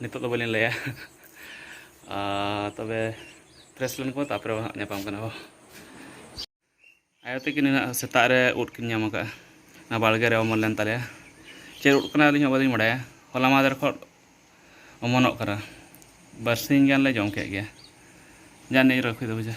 ᱱᱤᱛᱚᱜ ᱫᱚ ᱵᱟᱹᱞᱤᱧ ᱞᱟᱹᱭᱟ ᱛᱚᱵᱮ ᱯᱷᱨᱮᱥ ᱞᱮᱱ ᱠᱚ ᱛᱟᱯᱚᱨᱮ ᱦᱟᱸᱜ ᱧᱟᱯᱟᱢ ᱠᱟᱱᱟ ᱵᱚ ᱟᱭᱳ ᱛᱟᱹᱠᱤᱱ ᱦᱮᱱᱟᱜ ᱥᱮᱛᱟᱜ ᱨᱮ ᱩᱫ ᱠᱤᱱ ᱧᱟᱢ ᱟᱠᱟᱫᱼᱟ ᱚᱱᱟ ᱵᱟᱲᱜᱮ ᱨᱮ ᱚᱢᱚᱱ ᱞᱮᱱ ᱛᱟᱞᱮᱭᱟ ᱪᱮᱫ ᱩᱫ ᱠᱟᱱᱟ ᱟᱹᱞᱤᱧ ᱦᱚᱸ ᱵᱟᱹᱞᱤᱧ ᱵᱟᱲᱟᱭᱟ ᱦᱚᱞᱟ ᱢᱟᱦᱫᱮᱨ ᱠᱷᱚᱱ ᱚᱢᱚᱱᱚᱜ ᱠᱟᱱᱟ ᱵᱟᱨᱥᱤᱧ ᱜᱟᱱᱞᱮ ᱡᱚᱢ ᱠᱮᱫ ᱜᱮᱭᱟ ᱡᱟᱱᱤ ᱨᱟᱹᱠᱷᱤ ᱫᱚ ᱵᱩᱡᱷᱟᱹ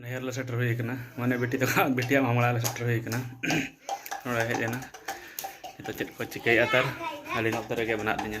ᱱᱟᱦᱮᱨ ᱞᱮ ᱥᱮᱴᱮᱨ ᱦᱩᱭ ᱟᱠᱟᱱᱟ ᱢᱟᱱᱮ ᱵᱤᱴᱤ ᱛᱟᱠᱚ ᱵᱤᱴᱤᱭᱟᱜ ᱢᱟᱢᱲᱟ ᱞᱮ ᱥᱮᱴᱮᱨ ᱦᱩᱭ ᱟᱠᱟᱱᱟ ᱱᱚᱰᱮ ᱦᱮᱡ ᱮᱱᱟ ᱱᱤᱛᱚᱜ ᱪᱮᱫ ᱠᱚ ᱪᱤᱠᱟᱹᱭᱮᱫᱼᱟ ᱛᱟᱨ ᱟᱹᱞᱤᱧ ᱱᱚᱛᱮ ᱨᱮᱜᱮ ᱢᱮᱱᱟᱜ ᱞᱤᱧᱟᱹ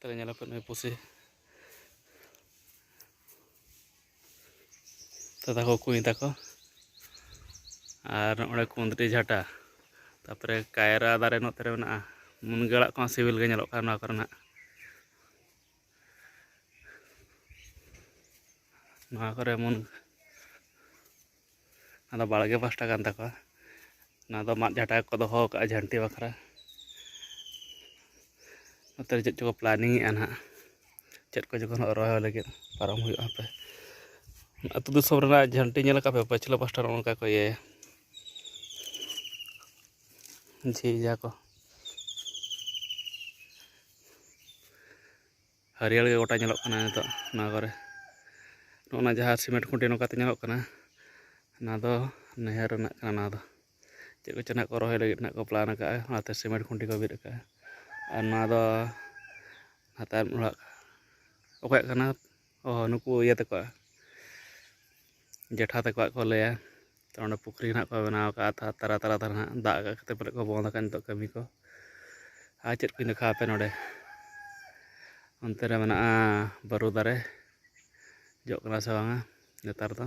ᱛᱟᱦᱚᱞᱮ ᱧᱮᱞ ᱟᱯᱮ ᱱᱩᱭ ᱯᱩᱥᱤ ᱫᱟᱫᱟ ᱠᱚ ᱠᱩᱧ ᱛᱟᱠᱚ ᱟᱨ ᱱᱚᱜᱼᱚᱸᱰᱮ ᱠᱩᱸᱫᱽᱨᱤ ᱡᱷᱟᱴᱟ ᱛᱟᱯᱚᱨᱮ ᱠᱟᱭᱨᱟ ᱫᱟᱨᱮ ᱱᱚᱛᱮ ᱨᱮ ᱢᱮᱱᱟᱜᱼᱟ ᱢᱩᱱᱜᱟᱹ ᱟᱲᱟᱜ ᱠᱚᱦᱚᱸ ᱥᱤᱵᱤᱞ ᱜᱮ ᱧᱮᱞᱚᱜ ᱠᱟᱱᱟ ᱱᱚᱣᱟ ᱠᱚᱨᱮᱱᱟᱜ ᱱᱚᱣᱟ ᱠᱚᱨᱮ ᱢᱩᱱ ᱟᱫᱚ ᱵᱟᱲᱜᱮ ᱯᱟᱥᱴᱟ ᱠᱟᱱ ᱛᱟᱠᱚᱣᱟ ᱚᱱᱟ ᱫᱚ ᱢᱟᱫ ᱡᱷᱟᱴᱟ ᱠᱚ ᱫᱚᱦᱚ ᱠᱟᱜᱼᱟ ᱡᱷᱟᱱᱴᱤ ᱵᱟᱠᱷᱨᱟ ᱱᱚᱛᱮ ᱪᱮᱫ ᱪᱚᱠᱚ ᱯᱞᱟᱱᱤᱝ ᱮᱜᱼᱟ ᱱᱟᱦᱟᱜ ᱪᱮᱫ ᱠᱚ ᱡᱚᱠᱷᱚᱱ ᱨᱚᱦᱚᱭ ᱞᱟᱹᱜᱤᱫ ᱯᱟᱨᱚᱢ ᱦᱩᱭᱩᱜᱼᱟ ᱦᱟᱯᱮ ᱟᱹᱛᱩ ᱫᱤᱥᱚᱢ ᱨᱮᱱᱟᱜ ᱡᱷᱟᱱᱴᱤ ᱧᱮᱞ ᱠᱟᱜ ᱯᱮ ᱯᱟᱹᱪᱷᱞᱟᱹ ᱯᱟᱥᱴᱟ ᱱᱚᱜᱼᱚ ᱱᱚᱝᱠᱟ ᱠᱚ ᱤᱭᱟᱹᱭᱟ ᱡᱷᱤᱡᱟ ᱠᱚ ᱦᱟᱹᱨᱭᱟᱹᱲ ᱜᱮ ᱜᱚᱴᱟ ᱧᱮᱞᱚᱜ ᱠᱟᱱᱟ ᱱᱤᱛᱚᱜ ᱱᱚᱣᱟ ᱠᱚᱨᱮ ᱱᱚᱜᱼᱚᱱᱟ ᱡᱟᱦᱟᱸ ᱥᱤᱢᱮᱱᱴ ᱠᱷᱩᱸᱴᱤ ᱱᱚᱝᱠᱟᱛᱮ ᱧᱮᱞᱚᱜ ᱠᱟᱱᱟ ᱚᱱᱟ ᱫᱚ ᱱᱟᱹᱭᱦᱟᱹᱨ ᱨᱮᱱᱟᱜ ᱠᱟᱱᱟ ᱱᱚᱣᱟ ᱫᱚ ᱪᱮᱫ ᱠᱚᱪᱚ ᱱᱟᱜ ᱠᱚ ᱨᱚᱦᱚᱭ ᱞᱟᱹᱜᱤᱫ ᱱᱟᱜ ᱠᱚ ᱯᱞᱟᱱ ᱟᱠᱟᱫᱼᱟ ᱚᱱᱟᱛᱮ ᱥᱤᱢᱮᱱᱴ ᱠᱷᱩᱸᱴᱤ ᱠᱚ ᱵᱤᱫ ᱟᱠᱟᱫᱼᱟ ᱟᱨ ᱱᱚᱣᱟ ᱫᱚ ᱦᱟᱛᱟᱣ ᱚᱲᱟᱜ ᱚᱠᱚᱭᱟᱜ ᱠᱟᱱᱟ ᱚ ᱱᱩᱠᱩ ᱤᱭᱟᱹ ᱛᱟᱠᱚᱣᱟᱜ ᱡᱮᱴᱷᱟ ᱛᱟᱠᱚᱣᱟᱜ ᱠᱚ ᱞᱟᱹᱭᱟ ᱛᱚ ᱚᱸᱰᱮ ᱯᱩᱠᱷᱨᱤ ᱱᱟᱦᱟᱜ ᱠᱚ ᱵᱮᱱᱟᱣ ᱠᱟᱜᱼᱟ ᱛᱟᱨ ᱛᱟᱞᱟ ᱛᱟᱞᱟ ᱛᱮ ᱱᱟᱦᱟᱜ ᱫᱟᱜ ᱟᱠᱟᱜ ᱠᱷᱟᱹᱛᱤᱨ ᱯᱟᱞᱮᱫ ᱠᱚ ᱵᱚᱱᱫᱽ ᱠᱟᱜᱼᱟ ᱱᱤᱛᱚᱜ ᱠᱟᱹᱢᱤ ᱠᱚ ᱟᱨ ᱪᱮᱫ ᱠᱚᱧ ᱫᱮᱠᱷᱟᱣ ᱟᱯᱮᱭᱟ ᱱᱚᱸᱰᱮ ᱚᱱᱛᱮ ᱨᱮ ᱢᱮᱱᱟᱜᱼᱟ ᱵᱟᱹᱨᱩ ᱫᱟᱨᱮ ᱡᱚᱜ ᱠᱟᱱᱟ ᱥᱮ ᱵᱟᱝᱟ ᱱᱮᱛᱟᱨ ᱫᱚ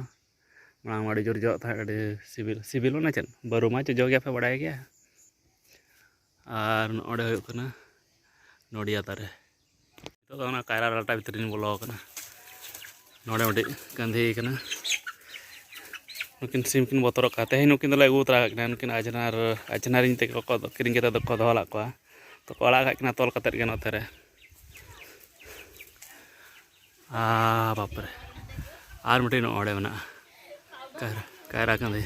ᱢᱟᱲᱟᱝ ᱢᱟ ᱟᱹᱰᱤ ᱡᱳᱨ ᱡᱚᱜ ᱛᱟᱦᱮᱸᱫ ᱟᱹᱰᱤ ᱥᱤᱵᱤᱞ ᱥᱤᱵᱤᱞ ᱢᱟᱱᱮ ᱪᱮᱫ ᱵᱟᱹᱨᱩ ᱢᱟ ᱡᱚᱡᱚ ᱜᱮᱭᱟ ᱯᱮ ᱵᱟᱲᱟᱭ ᱜᱮᱭᱟ ᱟᱨ ᱱᱚᱰᱮ ᱦᱩᱭᱩᱜ ᱠᱟᱱᱟ ᱱᱚᱰᱤᱭᱟ ᱫᱟᱨᱮ ᱱᱤᱛᱚᱜ ᱫᱚ ᱚᱱᱟ ᱠᱟᱭᱨᱟ ᱰᱟᱞᱴᱟ ᱵᱷᱤᱛᱨᱤ ᱨᱤᱧ ᱵᱚᱞᱚ ᱟᱠᱟᱱᱟ ᱱᱚᱰᱮ ᱢᱤᱫᱴᱤᱡ ᱜᱟᱸᱫᱷᱤ ᱠᱟᱱᱟ ᱱᱩᱠᱤᱱ ᱥᱤᱢ ᱠᱤᱱ ᱵᱚᱛᱚᱨᱚᱜ ᱠᱟᱱᱟ ᱛᱮᱦᱮᱧ ᱱᱩᱠᱤᱱ ᱫᱚᱞᱮ ᱟᱹᱜᱩ ᱛᱚᱨᱟ ᱠᱟᱜ ᱠᱤᱱᱟ ᱱᱩᱠᱤᱱ ᱟᱡᱷᱱᱟᱨ ᱟᱡᱷᱱᱟᱨᱤᱧ ᱛᱮᱜᱮ ᱠᱚ ᱠᱤᱨᱤᱧ ᱠᱟᱛᱮ ᱫᱚᱠᱚ ᱫᱚᱦᱚ ᱞᱟᱜ ᱠᱚᱣᱟ ᱛᱚᱠᱚ ᱟᱲᱟᱜ ᱠᱟᱜ ᱠᱤᱱᱟ ᱛᱚᱞ ᱠᱟᱛᱮ ᱜᱮ ᱱᱚᱛᱮ ᱨᱮ ᱟ ᱵᱟᱯᱨᱮ ᱟᱨ ᱢᱤᱫᱴᱤᱡ ᱱᱚᱰᱮ ᱢᱮᱱᱟᱜᱼᱟ ᱠᱟᱭᱨᱟ ᱠᱟᱭᱨᱟ ᱜᱟᱸᱫᱷᱤ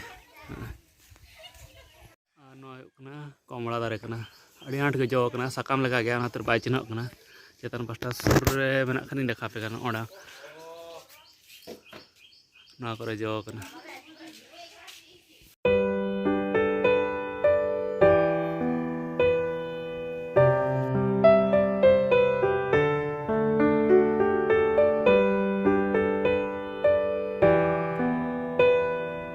ᱟᱨ ᱱᱚᱣᱟ ᱦᱩᱭᱩᱜ ᱠᱟᱱᱟ ᱠᱚᱢᱲᱟ ᱫᱟᱨᱮ ᱠᱟᱱᱟ ᱟᱹᱰᱤ ᱟᱸᱴ ᱜᱮ ᱡᱚ ᱠᱟᱱᱟ ᱥᱟᱠᱟᱢ ᱞᱮᱠᱟ ᱜᱮᱭᱟ ᱚᱱᱟᱛᱮ ᱵᱟᱭ ᱪᱤᱱᱦᱟᱹᱜ ᱠᱟᱱᱟ ᱪᱮᱛᱟᱱ ᱯᱟᱥᱴᱟ ᱥᱩᱨ ᱨᱮ ᱢᱮᱱᱟᱜ ᱠᱷᱟᱱᱤᱧ ᱫᱮᱠᱷᱟᱣ ᱯᱮ ᱠᱟᱱᱟ ᱚᱸᱰᱮ ᱱᱚᱣᱟ ᱠᱚᱨᱮ ᱡᱚ ᱠᱟᱱᱟ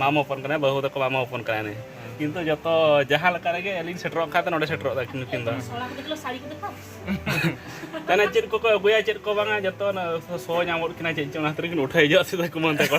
ᱢᱟᱢᱚ ᱦᱚᱯᱚᱱ ᱠᱟᱱᱟᱭ ᱵᱟᱹᱦᱩ ᱛᱟᱠᱚ ᱢᱟᱢᱚ ᱦᱚᱯᱚᱱ ᱠᱟᱱᱟᱭ ᱱᱩᱭ ᱠᱤᱱᱛᱩ ᱡᱚᱛᱚ ᱡᱟᱦᱟᱸ ᱞᱮᱠᱟ ᱨᱮᱜᱮ ᱟᱹᱞᱤᱧ ᱥᱮᱴᱮᱨᱚᱜ ᱠᱷᱟᱱ ᱫᱚ ᱱᱚᱰᱮ ᱥᱮᱴᱮᱨᱚᱜ ᱫᱟ ᱠᱤᱱ ᱱᱩᱠᱤᱱ ᱫᱚ ᱛᱟᱦᱚᱞᱮ ᱪᱮᱫ ᱠᱚᱠᱚ ᱟᱹᱜᱩᱭᱟ ᱪᱮᱫ ᱠᱚ ᱵᱟᱝᱟ ᱡᱚᱛᱚ ᱥᱚ ᱧᱟᱢᱚᱜ ᱠᱤᱱᱟ ᱪᱮᱫ ᱪᱚᱝ ᱚᱱᱟ ᱠᱷᱟᱹᱛᱤᱨ ᱠᱤᱱ ᱩᱴᱷᱟᱹᱣ ᱦᱤᱡᱩᱜᱼᱟ ᱥᱤᱫᱷᱟ ᱠᱩᱢᱟᱹᱝ ᱛᱟᱠᱚ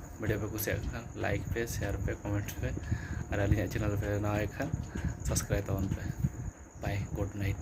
ᱵᱷᱤᱰᱤᱭᱳ ᱯᱮ ᱠᱩᱥᱤᱭᱟᱜ ᱠᱷᱟᱱ ᱞᱟᱭᱤᱠ ᱯᱮ ᱥᱮᱭᱟᱨ ᱯᱮ ᱠᱚᱢᱮᱱᱴ ᱯᱮ ᱟᱨ ᱟᱹᱞᱤᱧᱟᱜ ᱪᱮᱱᱮᱞ ᱯᱮ ᱱᱟᱣᱟ ᱜᱮ ᱠᱷᱟᱱ ᱥᱟᱵᱥᱠᱨᱟᱭᱤᱵᱽ ᱛᱟᱵᱚᱱ ᱯᱮ ᱵᱟᱭ ᱜᱩᱰ ᱱᱟᱭᱤᱴ